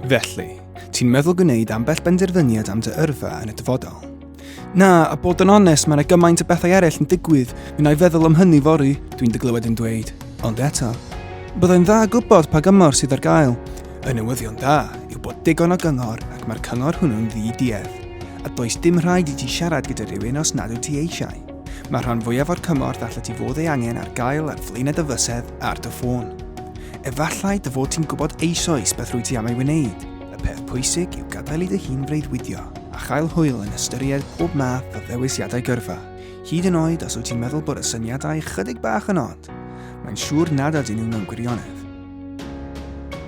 Felly, ti'n meddwl gwneud ambell benderfyniad am dy yrfa yn y dyfodol? Na, a bod yn onest, mae yna gymaint o bethau eraill yn digwydd. Mi i feddwl am hynny fori, dwi'n dy glywed yn dweud. Ond eto, byddai'n dda gwybod pa gymor sydd ar gael. Y newyddion dda yw bod digon o gyngor ac mae'r cyngor hwnnw'n ddi-duedd. A does dim rhaid i ti siarad gyda rhywun os nad wyt ti eisiau. Mae'r rhan fwyaf o'r cymorth allet ti fod ei angen ar gael ar flaenau dy fysedd ar dy ffôn. Efallai dy fod ti'n gwybod eisoes beth rwy ti am ei wneud. Y peth pwysig yw gadael i dy hun freuddwydio a chael hwyl yn ystyried pob math o ddewisiadau gyrfa. Hyd yn oed os wyt ti'n meddwl bod y syniadau ychydig bach yn od, mae'n siŵr nad ydyn nhw mewn gwirionedd.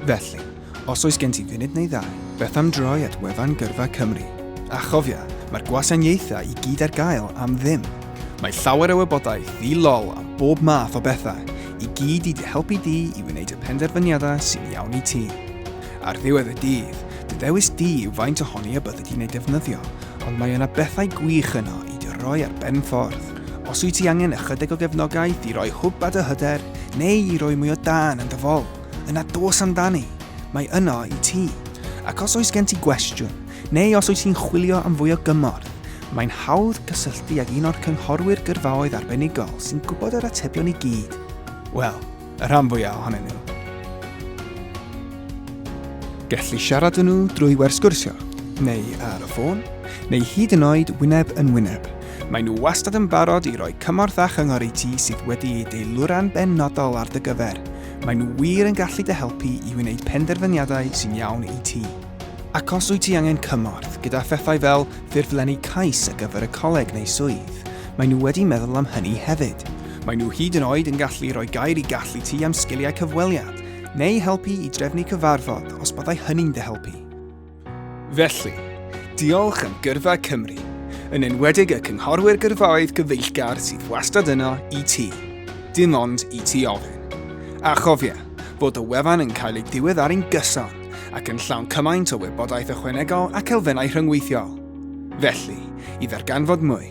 Felly, Os oes gen ti funud neu ddau, beth am droi at wefan Gyrfa Cymru? A chofia, mae'r gwasanaethau i gyd ar gael am ddim. Mae llawer o wybodaeth ddi-lol am bob math o bethau, i gyd i dy helpu di i wneud y penderfyniadau sy'n iawn i ti. Ar ddiwedd y dydd, dy ddewis di yw faint ohoni a byddi di'n eu defnyddio, ond mae yna bethau gwych yno i dy roi ar ben ffordd. Os wyt ti angen ychydig o gefnogaeth i roi hwb ar dy hyder, neu i roi mwy o dân yn dy fol, Yna dos amdani, mae yno i ti. Ac os oes gen ti gwestiwn, neu os oes ti'n chwilio am fwy o gymorth, mae'n hawdd cysylltu ag un o'r cynghorwyr gyrfaoedd arbenigol sy'n gwybod yr atebion i gyd. Wel, y rhan fwyaf ohonyn nhw. Gelli siarad â nhw drwy wers sgwrsio, neu ar y ffôn, neu hyd yn oed wyneb yn wyneb. Maen nhw wastad yn barod i roi cymorth a chyngor i ti sydd wedi ei deilwra'n benodol ar dy gyfer. Maen nhw wir yn gallu dy helpu i wneud penderfyniadau sy'n iawn i ti. Ac os wyt ti angen cymorth gyda phethau fel ffurflenni cais ar gyfer y coleg neu swydd, maen nhw wedi meddwl am hynny hefyd. Maen nhw hyd yn oed yn gallu rhoi gair i gallu ti am sgiliau cyfweliad, neu helpu i drefnu cyfarfod os byddai hynny'n dy helpu. Felly, diolch am gyrfa Cymru, yn enwedig y cynghorwyr gyrfaoedd gyfeillgar sydd wastad yno i ti, dim ond i ti ofyn. A chofia, bod y wefan yn cael ei diweddaru'n gyson ac yn llawn cymaint o wybodaeth ychwanegol ac elfennau rhyngweithiol. Felly, i ddarganfod mwy,